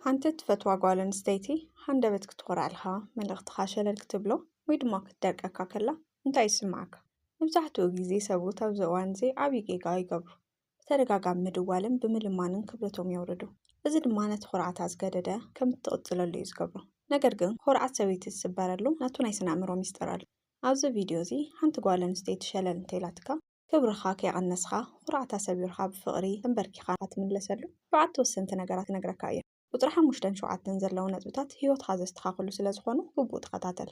ሓንቲ እትፈትዋ ጓል ኣንስተይቲ ሃንደበት ክትኾርዓልኻ፣ መልእኽትኻ ሸለል ክትብሎ ወይ ድማ ክትደርቀካ ከላ እንታይ ይስምዓካ? መብዛሕትኡ ግዜ ሰብኡት ኣብዚ እዋን እዚ ዓብዪ ጌጋ ይገብሩ። ብተደጋጋሚ ምድዋልን ብምልማንን ክብረቶም የውርዱ። እዚ ድማ ነቲ ኹርዓታ ዝገደደ ከም እትቕጽለሉ እዩ ዝገብሮ። ነገር ግን ኹርዓት ሰበይቲ ዝስበረሉ ናቱ ናይ ስነ-ኣእምሮ ሚስጥር ኣሎ። ኣብዚ ቪድዮ እዚ ሓንቲ ጓል ኣንስተይቲ ሸለል እንተኢላትካ፣ ክብርኻ ከይቐነስኻ ኹርዓት ኣሰቢሩካ ብፍቕሪ ተምበርኪኻ ንኸትምለሰሉ ሸውዓተ ወሰንቲ ነገራት ክነግረካ እየ። ቁፅሪ ሓሙሽተን ሸውዓተን ዘለዉ ነጥብታት ህይወትኻ ዘስተኻኽሉ ስለዝኾኑ ግቡእ ተኸታተል።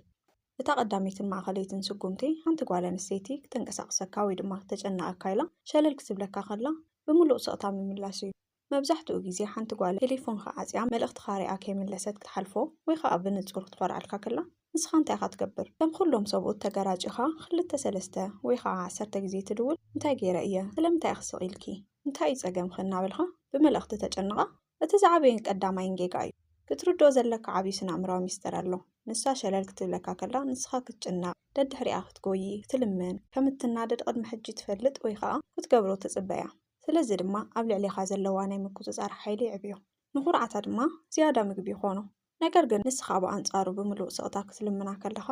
እታ ቀዳመይትን ማእኸለይትን ስጉምቲ ሓንቲ ጓል ኣንስተይቲ ክተንቀሳቕሰካ ወይ ድማ ክተጨንቐካ ኢላ ሸለል ክትብለካ ከላ ብምሉእ ስቕታ ምምላስ እዩ። መብዛሕትኡ ግዜ ሓንቲ ጓል ቴሌፎንካ ዓጽያ መልእኽትኻ ሪኣ ከይመለሰት ክትሓልፎ ወይ ኸኣ ብንጹር ክትፈርኣልካ ከላ ንስኻ እንታይ ኢኻ ትገብር? ከም ኹሎም ሰብኡት ተገራጪኻ ኽልተ ሰለስተ ወይ ኸኣ ዓሰርተ ግዜ ትድውል እንታይ ገይረ እየ? ስለምንታይ ኢኺ ስቕ ኢልኪ? እንታይ እዩ ጸገምኺ? እናበልካ ብመልእኽቲ ተጨንቓ እቲ ዝዓበየን ቀዳማይን ጌጋ እዩ። ክትርድኦ ዘለካ ዓቢ ስነኣእምራዊ ሚስጥር ኣሎ። ንሳ ሸለል ክትብለካ ከላ ንስኻ ክትጭነቕ፣ ደድሕሪኣ ክትጎዪ፣ ክትልምን፣ ከም እትናደድ ቕድሚ ሕጂ ትፈልጥ ወይ ኸኣ ክትገብሮ ትጽበ እያ። ስለዚ ድማ ኣብ ልዕሌኻ ዘለዋ ናይ ምቁጽጻር ሓይሊ የዕብዮ። ንዅርዓታ ድማ ዝያዳ ምግቢ ይዀኖ። ነገር ግን ንስኻ ብኣንጻሩ ብምሉእ ስቕታ ክትልምና ከለኻ፣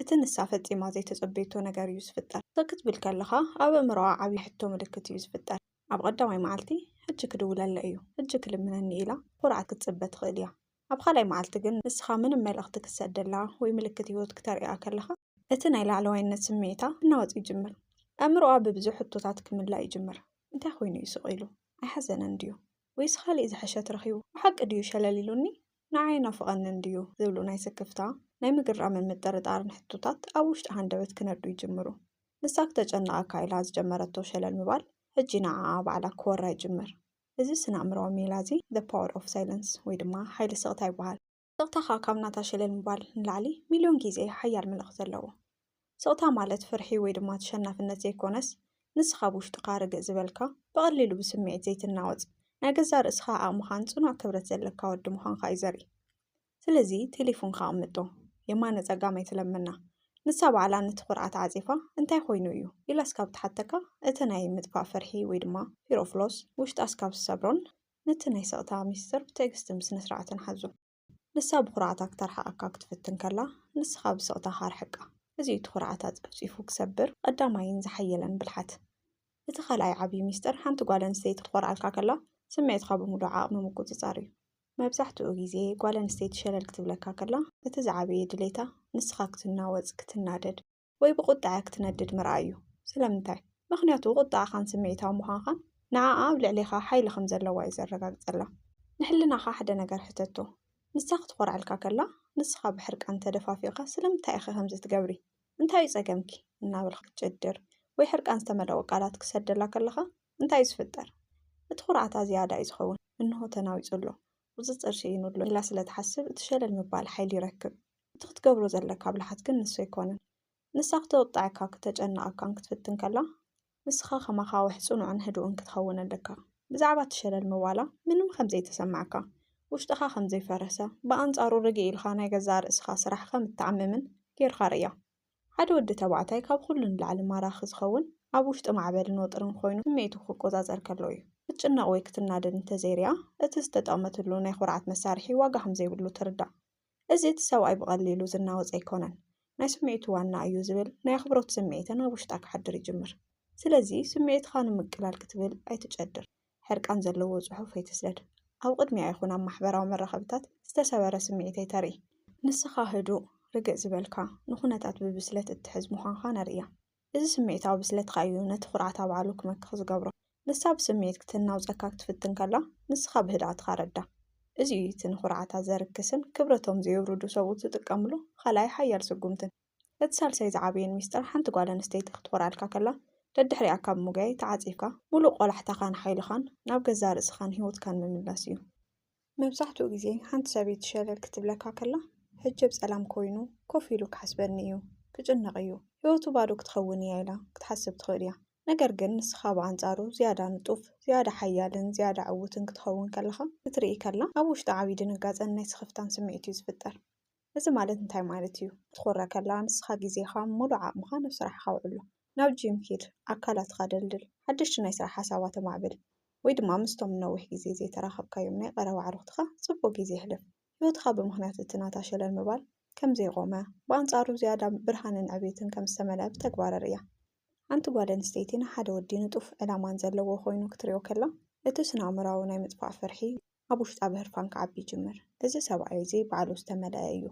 እቲ ንሳ ፈጺማ ዘይተጸበየቶ ነገር እዩ ዝፍጠር። ስቕ ክትብል ከለኻ ኣብ ኣእምሮኣ ዓቢ ሕቶ ምልክት እዩ ዝፍጠር። ኣብ ቐዳማይ መዓልቲ ሕጂ ክድውለለይ እዩ፣ ሕጂ ክልምነኒ ኢላ ብዅርዓት ክትጽበ ትኽእል እያ። ኣብ ኻልኣይ መዓልቲ ግን ንስኻ ምንም መልእኽቲ ክትሰደላ ወይ ምልክት ህይወት ክተርእያ ከለኻ፣ እቲ ናይ ላዕለዋይነት ስምዒታ ክናወጽ ይጅምር። ኣእምሮኣ ብብዙሕ ሕቶታት ክምላእ ይጅምር። እንታይ ኰይኑ እዩ ስቕ ኢሉ? ኣይሓዘነን ድዩ? ወይስ ኻልእ ዝሐሸት ረኺቡ? ብሓቂ ድዩ ሸለል ኢሉኒ? ንዓይ ኣይናፍቐንን እንድዩ? ዝብሉ ናይ ስክፍታ፣ ናይ ምግራምን ምጥርጣርን ሕቶታት ኣብ ውሽጢ ሃንደበት ክነድዱ ይጅምሩ። ንሳ ክተጨንቐካ ኢላ ዝጀመረቶ ሸለል ምባል ሕጂ ንዓኣ ባዕላ ክወራ ይጅምር። እዚ ስነ-ኣእምሮኣዊ ሜላ'ዚ The Power of Silence ወይ ድማ ሓይሊ ስቕታ ይበሃል። ስቕታኻ ካብ ናታ ሸለል ምባል ንላዕሊ ሚልዮን ግዜ ሓያል መልእኽቲ ኣለዎ። ስቕታ ማለት ፍርሒ ወይ ድማ ተሸናፍነት ዘይኮነስ፣ ንስኻ ብውሽጥኻ ርግእ ዝበልካ፣ ብቐሊሉ ብስምዒት ዘይትናወጽ፣ ናይ ገዛእ ርእስኻ ዓቕምኻን ጽኑዕ ክብረት ዘለካ ወዲ ምዃንካ እዩ ዘርኢ። ስለዚ ቴሌፉንካ ኣቕምጦ። የማነ ጸጋም ኣይትለምና። ንሳ ባዕላ ነቲ ኩርዓ ተዓጺፋ እንታይ ኮይኑ እዩ? ኢላ እስካብ ትሓተካ፣ እቲ ናይ ምጥፋእ ፍርሒ ወይ ድማ Fear of Loss ውሽጣ እስካብ ዝሰብሮን፣ ነቲ ናይ ስቕታ ምስጢር ብትዕግስትን ብስነ-ስርዓትን ሓዞ። ንሳ ብኹርዓታ ክተርሕቐካ ክትፍትን ከላ፣ ንስኻ ብስቕታኻ ኣርሕቃ። እዚ እዩ እቲ ኹርዓታ ጸፍጺፉ ክሰብር ቐዳማይን ዝሓየለን ብልሓት። እቲ ካልኣይ ዓብዪ ምስጢር ሓንቲ ጓል ኣንስተይቲ ክትኾርዓልካ ከላ ስምዒትካ ብምሉእ ዓቕሚ ምቁጽጻር እዩ። መብዛሕትኡ ግዜ ጓል ኣንስተይቲ ሸለል ክትብለካ ከላ፣ እቲ ዝዓበየ ድሌታ ንስኻ ክትናወጽ፣ ክትናደድ፣ ወይ ብቑጥዐ ክትነድድ ምርኣይ እዩ። ስለምንታይ? ምኽንያቱ ቁጥዐኻን ስምዒታዊ ምዃንኻን ንዓኣ ኣብ ልዕሌኻ ሓይሊ ከም ዘለዋ እዩ ዘረጋግጸላ። ንሕልናኻ ሓደ ነገር ሕተቶ፣ ንሳ ክትኾርዐልካ ከላ ንስኻ ብሕርቃን ተደፋፊእካ ስለምንታይ ኢኺ ከምዚ ትገብሪ? እንታይ እዩ ጸገምኪ? እናበልካ ክትጭድር ወይ ሕርቃን ዝተመልኦ ቃላት ክትሰደላ ከለኻ እንታይ እዩ ዝፍጠር? እቲ ኩርዓታ ዝያዳ እዩ ዝኸውን። እንሆ ተናዊጹ ኣሎ። እዚ ጥርሲ እዩ ንብሎ ኢላ ስለ ትሓስብ እቲ ሸለል ምባል ሓይሊ ይረክብ። እቲ ክትገብሮ ዘለካ ብልሓት ግን ንሱ ኣይኮነን። ንሳ ክተቁጠዐካ ክተጨንቀካን ክትፍትን ከላ ንስካ ከማካ ወሕ ጽኑዕን ህዱእን ክትከውን ኣለካ። ብዛዕባ እቲ ሸለል ምባላ ምንም ከም ዘይተሰማዕካ፣ ውሽጥካ ከም ዘይፈረሰ፣ ብኣንጻሩ ርግእ ኢልካ ናይ ገዛእ ርእስካ ስራሕ ከም እትዓምምን ጌርካ ርእያ። ሓደ ወዲ ተባዕታይ ካብ ኹሉ ንላዕሊ ማራኺ ዝኸውን ኣብ ውሽጢ ማዕበልን ወጥርን ኾይኑ ስምዒቱ ክቆፃፀር ከሎ እዩ። ክትጭነቕ ወይ ክትናደድ እንተዘይሪኣ እቲ ዝተጠቕመትሉ ናይ ኹርዓት መሳርሒ ዋጋ ከምዘይብሉ ትርዳእ። እዚ እቲ ሰብኣይ ብቐሊሉ ዝናወፅ ኣይኮነን። ናይ ስምዒቱ ዋና እዩ ዝብል ናይ ኣኽብሮት ስምዒትን ኣብ ውሽጣ ክሓድር ይጅምር። ስለዚ ስምዒትኻ ንምቅላል ክትብል ኣይትጨድር። ሕርቃን ዘለዎ ጽሑፍ ኣይትስደድ። ኣብ ቕድሚኣ ይኹን ኣብ ማሕበራዊ መራኸብታት ዝተሰበረ ስምዒት ኣይተርኢ። ንስኻ ህዱእ፣ ርግእ ዝበልካ፣ ንኹነታት ብብስለት እትሕዝ ምዃንካ ነርእያ። እዚ ስምዒታዊ ብስለትካ እዩ ነቲ ኩርዓት ኣብዓሉ ክመክኽ ዝገብሮ። ንሳ ብስምዒት ክትናውጸካ ክትፍትን ከላ ንስኻ ብህድኣትካ ረዳ። እዚ እዩ እቲ ንኹርዓታ ዘርክስን ክብረቶም ዘየውርዱ ሰብኡት ዝጥቀምሉ ኻልኣይ ሓያል ስጉምትን። እቲ ሳልሳይ ዝዓበየን ሚስጥር ሓንቲ ጓል ኣንስተይቲ ክትኾርዓልካ ከላ ደድሕሪኣ ካብ ምጉያይ ተዓጺፍካ ምሉእ ቆላሕታኻን ሓይልኻን ናብ ገዛእ ርእስኻን ህይወትካን ምምላስ እዩ። መብዛሕትኡ ግዜ ሓንቲ ሰበይቲ ሸለል ክትብለካ ከላ ሕጅብ ጸላም ኮይኑ ኮፍ ኢሉ ክሓስበኒ እዩ፣ ክጭነቕ እዩ፣ ህይወቱ ባዶ ክትኸውን እያ ኢላ ክትሓስብ ትኽእል እያ። ነገር ግን ንስኻ ብኣንጻሩ ዝያዳ ንጡፍ፣ ዝያዳ ሓያልን ዝያዳ ዕዉትን ክትኸውን ከለኻ ክትርኢ ከላ ኣብ ውሽጣ ዓቢ ድንጋጸን ናይ ስኽፍታን ስምዒት እዩ ዝፍጠር። እዚ ማለት እንታይ ማለት እዩ? ክትኹረ ከለኻ ንስኻ ግዜኻን ምሉእ ዓቕምኻን ኣብ ስራሕካ ኣውዕሎ። ናብ ጂም ኪድ፣ ኣካላትካ ደልድል፣ ሓደሽቲ ናይ ስራሕ ሓሳባት ኣማዕብል፣ ወይ ድማ ምስቶም ንነዊሕ ግዜ ዘይተራኸብካዮም ናይ ቀረባ ኣዕሩኽትኻ ጽቡቕ ግዜ ኣሕልፍ። ህይወትካ ብምኽንያት እቲ ናታ ሸለል ምባል ከም ዘይቖመ፣ ብኣንጻሩ ዝያዳ ብርሃንን ዕቤትን ከም ዝተመልኣ ብተግባር ኣርእያ። ሓንቲ ጓል ኣንስተይቲ ንሓደ ወዲ ንጡፍ ዕላማን ዘለዎ ኮይኑ ክትርእዮ ከላ፣ እቲ ስነ-ኣእምሮኣዊ ናይ ምጥፋእ ፍርሒ ኣብ ውሽጣ ብህርፋን ክዓቢ ይጅምር። እዚ ሰብኣይ እዚ ባዕሉ ዝተመልኣ እዩ።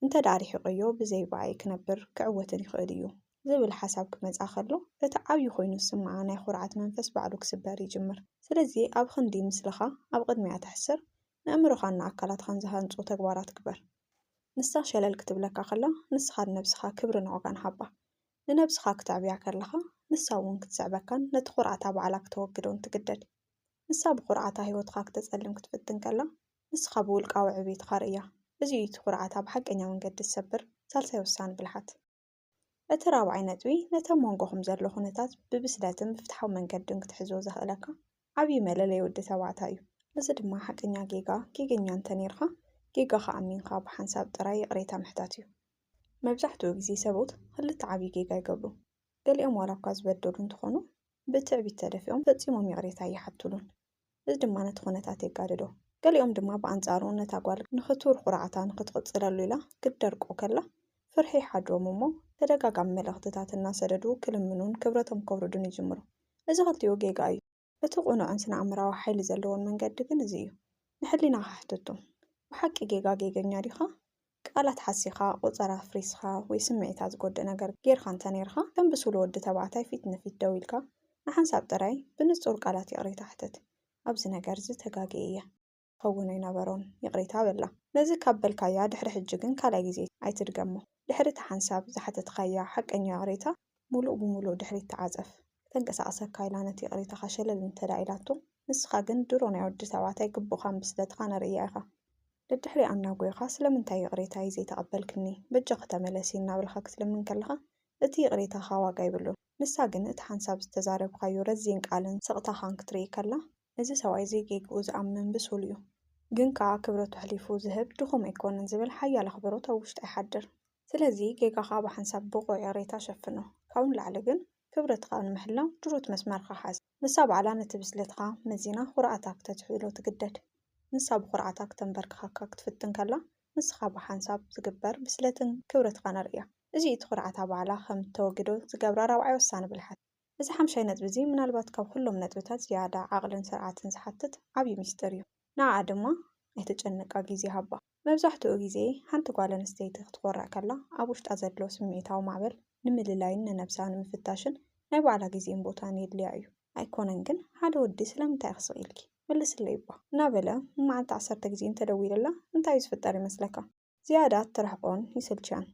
እንተ ደኣ ርሒቐዮ ብዘይ ብኣይ ክነብር ክዕወትን ይኽእል እዩ። ዝብል ሓሳብ ክመጽኣ ከሎ እቲ ዓብዪ ኮይኑ ዝስምዓ ናይ ኹርዓት መንፈስ ባዕሉ ክስበር ይጅምር። ስለዚ ኣብ ኽንዲ ምስልኻ ኣብ ቕድሚኣ ተሕስር ነእምሮኻን ንኣካላትኻን ዝሃንጹ ተግባራት ግበር። ንሳ ሸለል ክትብለካ ከላ ንስኻ ንነብስኻ ክብርን ዋጋን ሃባ። ንነብስኻ ክተዕብያ ከለኻ ንሳ እውን ክትስዕበካን ነቲ ኹርዓታ ባዕላ ክተወግዶን ትግደድ። ንሳ ብዅርዓታ ህይወትካ ክተጸልም ክትፍትን ከላ፣ ንስኻ ብውልቃዊ ዕብይትካ ርእያ። እዚ እዩ እቲ ዅርዓታ ብሓቀኛ መንገዲ ዝሰብር ሳልሳይ ወሳኒ ብልሓት። እቲ ራብዓይ ነጥቢ ነቲ ኣብ መንጎኹም ዘሎ ዅነታት ብብስለትን ብፍትሓዊ መንገድን ክትሕዞ ዘኽእለካ ዓብዪ መለለዪ ወዲ ተባዕታይ እዩ። እዚ ድማ ሓቀኛ ጌጋ ጌገኛ እንተ ኔርካ ጌጋኻ ኣሚንካ ብሓንሳብ ጥራይ ይቕሬታ ምሕታት እዩ። መብዛሕትኡ ግዜ ሰብኡት ክልተ ዓብዪ ጌጋ ይገብሩ። ገሊኦም ዋላ እኳ ዝበደሉ እንተዀኑ፣ ብትዕቢት ተደፊኦም ፈጺሞም ይቕሬታ ኣይሓቱሉን፣ እዚ ድማ ነቲ ዅነታት የጋድዶ። ገሊኦም ድማ ብኣንጻሩ፣ ነታ ጓል ንኽቱር ዅርዓታ ንኽትቕጽለሉ ኢላ ክትደርቆ ከላ ፍርሒ ይሓድሮም እሞ፣ ተደጋጋሚ መልእኽትታት እናሰደዱ ክልምኑን ክብረቶም ከውርዱን ይጅምሩ። እዚ ኽልቲኡ ጌጋ እዩ። እቲ ቅኑዕን ስነ-ኣእምሮኣዊ ሓይሊ ዘለዎን መንገዲ ግን እዚ እዩ። ንሕሊናኻ ሕተቶ፣ ብሓቂ ጌጋ ጌገኛ ዲኻ? ቃላት ሓሲኻ፣ ቁጸራ ኣፍሪስኻ፣ ወይ ስምዒታ ዝጎድእ ነገር ጌርካ እንተ ኔርካ፣ ከም ብሱል ወዲ ተባዕታይ ፊት ንፊት ደው ኢልካ ንሓንሳብ ጥራይ ብንጹር ቃላት ይቕሬታ ሕተት፣ ኣብዚ ነገር'ዚ ተጋግየ እየ። ክኸውን ኣይነበሮን ይቕሬታ በላ። ነዚ ካብ በልካያ ድሕሪ ሕጂ ግን ካልኣይ ግዜ ኣይትድገሞ። ድሕሪ እቲ ሓንሳብ ዝሓተትካያ ሓቀኛ ይቕሬታ ምሉእ ብምሉእ ድሕሪት ተዓጸፍ። ከተንቀሳቕሰካ ኢላ ነቲ ይቕሬታኻ ሸለል እንተድኣ ኢላቶ ንስኻ ግን ድሮ ናይ ወዲ ተባዕታይ ግቡእኻን ብስለትኻን ኣርእያ ኢኻ። ደድሕሪኣ እናጎየኻ ስለምንታይ ይቕሬታይ ዘይተቐበልክኒ በጃኺ ተመለሲ እናበልካ ክትልምን ከለኻ እቲ ይቕሬታኻ ዋጋ የብሉን። ንሳ ግን እቲ ሓንሳብ ዝተዛረብካዮ ረዚን ቃልን ስቕታኻን ክትርኢ ከላ እዚ ሰብኣይ እዚ ጌግኡ ዝኣምን ብሱል እዩ፣ ግን ከኣ ክብረቱ ኣሕሊፉ ዝህብ ድኹም ኣይኮነን ዝብል ሓያል ኣኽብሮት ኣብ ውሽጣ ይሓድር። ስለዚ ጌጋኻ ብሓንሳብ ብቑዕ ይቕሬታ ሸፍኖ። ካብኡ ንላዕሊ ግን ክብረትካ ንምሕላው ድሩት መስመርካ ሓዝ። ንሳ ባዕላ ነቲ ብስለትካ መዚና ኹርዓታ ክተትሕዝሎ ትግደድ። ንሳ ብኹርዓታ ክተንበርክኸካ ክትፍትን ከላ ንስኻ ብሓንሳብ ዝግበር ብስለትን ክብረትካን ኣርእያ። እዚ እዩ እቲ ኹርዓታ ባዕላ ከም እተወግዶ ዝገብራ ራብዓይ ወሳኒ ብልሓት። እዚ ሓምሻይ ነጥቢ እዚ ምናልባት ካብ ኹሎም ነጥብታት ዝያዳ ዓቕልን ስርዓትን ዝሓትት ዓብዪ ሚስጥር እዩ። ንዓኣ ድማ ኣይተጨንቃ ግዜ ሃባ። መብዛሕትኡ ግዜ ሓንቲ ጓል ኣንስተይቲ ክትኾርዕ ከላ ኣብ ውሽጣ ዘሎ ስምዒታዊ ማዕበል ንምልላይን ንነብሳ ንምፍታሽን ናይ ባዕላ ግዜን ቦታን የድልያ እዩ። ኣይኮነን ግን ሓደ ወዲ ስለምንታይ ኢኺ ስቕ ኢልኪ? ምልስለይ'ባ! እናበለ ንመዓልቲ ዓሰርተ ግዜ እንተደዊሉላ እንታይ እዩ ዝፍጠር ይመስለካ? ዝያዳ እትርሕቆን ይስልችያን።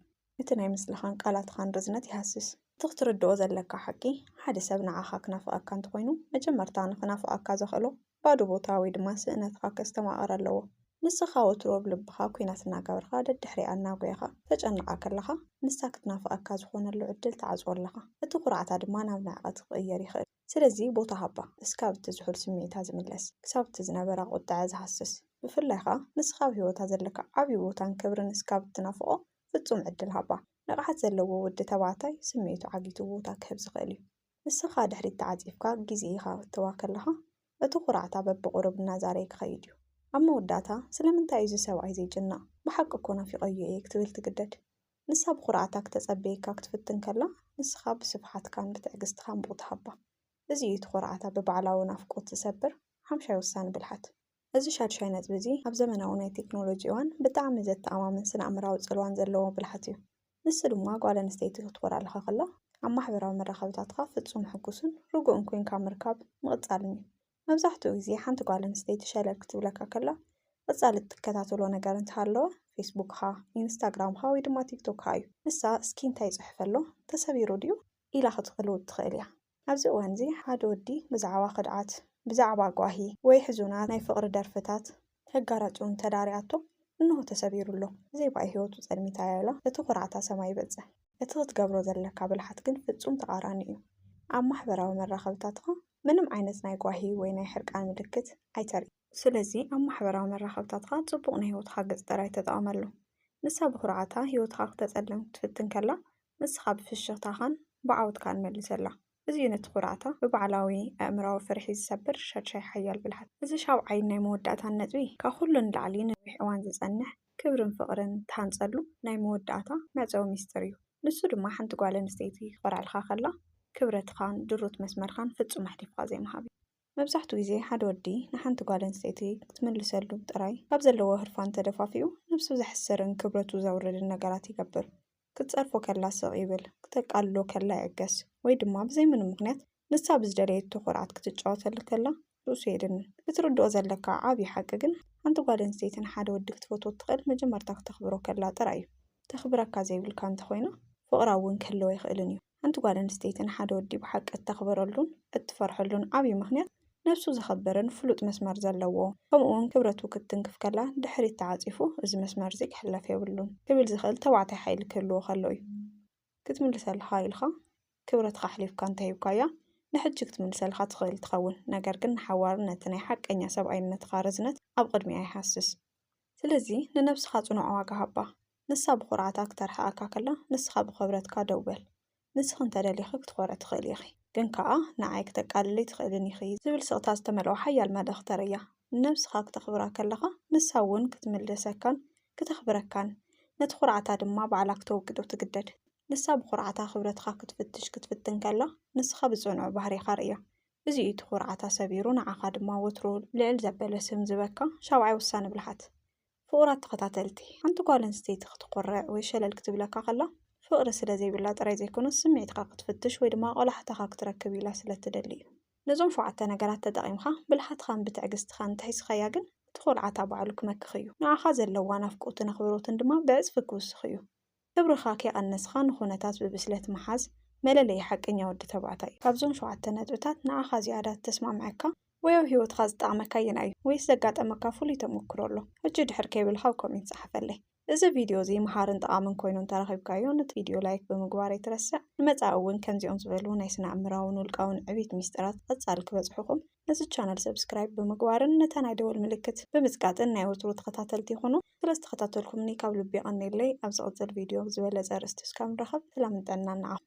እቲ ናይ ምስላኻን ቃላትኻን ርዝነት ይሃስስ። እቲ ክትርድኦ ዘለካ ሓቂ፣ ሓደ ሰብ ንዓኻ ክናፍቐካ እንተኾይኑ፣ መጀመርታ ንኽናፍቐካ ዘኽእሎ ባዶ ቦታ ወይ ድማ ስእነትኻ ከስተማቕር ኣለዎ። ንስኻ ወትሩ ኣብ ልብኻ ኲናት እናገበርካ ደድሕሪኣ እናጎየኻ ተጨንቓ ከለኻ፣ ንሳ ክትናፍቐካ ዝኾነሉ ዕድል ትዓጽዎ ኣለኻ። እቲ ኩርዓታ ድማ ናብ ንዕቐት ክቕየር ይኽእል። ስለዚ ቦታ ሃባ፣ እስካብ እቲ ዝሑል ስምዒታ ዝምለስ፣ ክሳብ እቲ ዝነበራ ቁጠዐ ዝሃስስ፣ ብፍላይ ከኣ ንስኻ ኣብ ህይወታ ዘለካ ዓቢ ቦታን ክብርን እስካብ እትናፍቆ ፍጹም ዕድል ሃባ። ንቕሓት ዘለዎ ወዲ ተባዕታይ ስምዒቱ ዓጊቱ ቦታ ክህብ ዝኽእል እዩ። ንስኻ ድሕሪት ተዓጺፍካ ግዜ ከተእትዋ ከለኻ እቲ ኩርዓታ በብቑሩብ እናዛረየ ክኸይድ እዩ። ኣብ መወዳእታ ስለምንታይ እዩ እዚ ሰብኣይ ዘይጭነቕ፣ ብሓቂ እኮ ናፊቐዮ እየ ክትብል ትግደድ። ንሳ ብኹርዓታ ክተጸብየካ ክትፍትን ከላ፣ ንስኻ ብስፍሓትካን ብትዕግስትኻን ቡቕ ትሃባ። እዚ እዩ እቲ ኹርዓታ ብባዕላዊ ናፍቆት ዝሰብር ሓምሻይ ወሳኒ ብልሓት። እዚ ሻድሻይ ነጥቢ እዚ ኣብ ዘመናዊ ናይ ቴክኖሎጂ እዋን ብጣዕሚ ዘተኣማምን ስነኣእምራዊ ጽልዋን ዘለዎ ብልሓት እዩ። ንሱ ድማ ጓል ኣንስተይቲ ክትኾርዓልኻ ከላ ኣብ ማሕበራዊ መራኸብታትካ ፍጹም ሕጉስን ርጉእን ኮንካ ምርካብ ምቕጻልን እዩ። መብዛሕትኡ ግዜ ሓንቲ ጓል ኣንስተይቲ ሸለል ክትብለካ ከላ ቀጻሊ እትከታተሎ ነገር እንተሃለወ ፌስቡክኻ፣ ኢንስታግራምኻ ወይ ድማ ቲክቶክኻ እዩ። ንሳ እስኪ እንታይ ይጽሕፍ ኣሎ? ተሰቢሩ ድዩ? ኢላ ክትቅልውጥ ትኽእል እያ። ኣብዚ እዋንዚ ሓደ ወዲ ብዛዕባ ክድዓት፣ ብዛዕባ ጓሂ ወይ ሕዙናት ናይ ፍቕሪ ደርፍታት ከጋራጭውን ተዳርያቶ እንሆ ተሰቢሩ ኣሎ። ብዘይ ባኢ ህይወቱ ጸልሚታ ያላ እቲ ኩርዓታ ሰማይ ይበጽሕ። እቲ ክትገብሮ ዘለካ ብልሓት ግን ፍጹም ተቃራኒ እዩ። ኣብ ማሕበራዊ መራኸብታትኻ ምንም ዓይነት ናይ ጓሂ ወይ ናይ ሕርቃን ምልክት ኣይተርኢ። ስለዚ ኣብ ማሕበራዊ መራኸብታትኻ ጽቡቕ ናይ ህይወትኻ ገጽ ጥራይ ተጠቐመሉ። ንሳ ብኩርዓታ ህይወትኻ ክተጸልም ክትፍትን ከላ ንስኻ ብፍሽኽታኻን ብዓወትካን መልሰላ። እዚ እዩ ነቲ ኩርዓታ ብባዕላዊ ኣእምራዊ ፍርሒ ዝሰብር ሻድሻይ ሓያል ብልሓታ። እዚ ሻብዓይን ናይ መወዳእታን ነጥቢ፣ ካብ ኩሉ ንላዕሊ ንነዊሕ እዋን ዝጸንሕ ክብርን ፍቕርን እትሃንጸሉ ናይ መወዳእታ መዕጸዊ ሚስጥር እዩ። ንሱ ድማ ሓንቲ ጓል ኣንስተይቲ ክትኾርዐልካ ከላ ክብረትኻን ድሩት መስመርካን ፍጹም ኣሕሊፍካ ዘይምሃብ እዩ። መብዛሕቱ ግዜ ሓደ ወዲ ንሓንቲ ጓል ኣንስተይቲ ክትምልሰሉ ጥራይ ካብ ዘለዎ ህርፋን ተደፋፊኡ ነብሱ ዘሕስርን ክብረቱ ዘውርድን ነገራት ይገብር። ክትጸርፎ ከላ ስቕ ይብል፣ ክተቃልሎ ከላ ይዕገስ ወይ ድማ ብዘይ ምንም ምኽንያት ንሳ ብዝደለየቶ ኩርዓት ክትጫወተሉ ከላ ርእሱ የድንን። ክትርድኦ ዘለካ ዓቢ ሓቂ ግን ሓንቲ ጓል ኣንስተይቲ ንሓደ ወዲ ክትፈትዎ እትኽእል መጀመርታ ክተኽብሮ ከላ ጥራይ እዩ። ተኽብረካ ዘይብልካ እንተኾይና ፍቕራ እውን ክህልዎ ኣይኽእልን እዩ። ሓንቲ ጓል ኣንስተይቲ ንሓደ ወዲ ብሓቂ እተኽብረሉን እትፈርሐሉን ዓብዪ ምኽንያት፣ ነብሱ ዘኸብርን ፍሉጥ መስመር ዘለዎ፣ ከምኡውን ክብረቱ ክትትንክፍ ከላ ድሕሪት ተዓጺፉ እዚ መስመር እዚ ክሕለፍ የብሉን ክብል ዝኽእል ተባዕታይ ሓይሊ ክህልዎ ከሎ እዩ። ክትምልሰልካ ኢልካ ክብረትካ ኣሕሊፍካ እንተ ሂብካያ ንሕጂ ክትምልሰልካ ትኽእል ትኸውን፣ ነገር ግን ንሓዋሩ ነቲ ናይ ሓቀኛ ሰብኣይነትካ ርዝነት ኣብ ቕድሚኣ ይሃስስ። ስለዚ ንነብስኻ ጽኑዕ ዋጋ ሃባ። ንሳ ብኹርዓታ ክተርሕቐካ ከላ ንስኻ ብኸብረትካ ደው በል። ንስኺ እንተ ደሊኺ ክትኾርዒ ትኽእሊ ኢኺ፣ ግን ከኣ ንዓይ ክተቃልልይ ትኽእልን ኢኺ ዝብል ስቕታ ዝተመልኦ ሓያል መልእኽ ተርእያ። ንነብስኻ ክተኽብራ ከለኻ ንሳ እውን ክትምልሰካን ክተኽብረካን፣ ነቲ ኹርዓታ ድማ ባዕላ ክተወግዶ ትግደድ። ንሳ ብኹርዓታ ክብረትካ ክትፍትሽ ክትፍትን ከላ ንስኻ ብጽኑዕ ባህሪኻ ርእያ። እዚ እዩ እቲ ኹርዓታ ሰቢሩ ንዓኻ ድማ ወትሩ ልዕል ዘበለ ስም ዝህበካ ሻብዓይ ወሳኒ ብልሓት። ፍቑራት ተኸታተልቲ፣ ሓንቲ ጓል ኣንስተይቲ ክትኾርዕ ወይ ሸለል ክትብለካ ከላ፣ ፍቕሪ ስለ ዘይብላ ጥራይ ዘይኮነስ፣ ስምዒትካ ክትፍትሽ ወይ ድማ ቆላሕታኻ ክትረክብ ኢላ ስለ እትደሊ እዩ። ነዞም ሸውዓተ ነገራት ተጠቒምካ፣ ብልሓትካን ብትዕግስትኻን እንተሒዝካያ ግን፣ እቲ ኹርዓታ ባዕሉ ክመክኽ እዩ። ንዓኻ ዘለዋ ናፍቖትን ኣኽብሮትን ድማ ብዕጽፊ ክውስኽ እዩ። ክብርኻ ከይቐነስኻ ንኹነታት ብብስለት ምሓዝ መለለዪ ሓቀኛ ወዲ ተባዕታይ እዩ። ካብዞም ሸውዓተ ነጥብታት ንዓኻ ዝያዳ ዝተስማዕመዐካ ወይ ኣብ ህይወትኻ ዝጠቕመካ ኣየናይ እዩ? ወይስ ዘጋጠመካ ፍሉይ ተመኩሮ ኣሎ? ሕጂ ድሕር ከይበልካ ኣብ ኮሜንት ጸሓፈለይ። እዚ ቪድዮ እዚ መሃርን ጠቓምን ኮይኑ እንተረኺብካዮ ነቲ ቪድዮ ላይክ ብምግባር ኣይትረስዕ። ንመጻኢ እውን ከምዚኦም ዝበሉ ናይ ስነ ኣእምራውን ውልቃውን ዕብይት ሚስጥራት ብቐጻሊ ክበጽሑኹም ነዚ ቻነል ሰብስክራይብ ብምግባርን ነታ ናይ ደወል ምልክት ብምጽቃጥን ናይ ወትሩ ተኸታተልቲ ይኹኑ። ስለ ዝተኸታተልኩምኒ ካብ ልቢ የቐንየለይ። ኣብ ዝቕጽል ቪድዮ ብዝበለጸ ኣርእስቲ እስካብ ንራኸብ ሰላምን ጥዕናን ንዓኹም።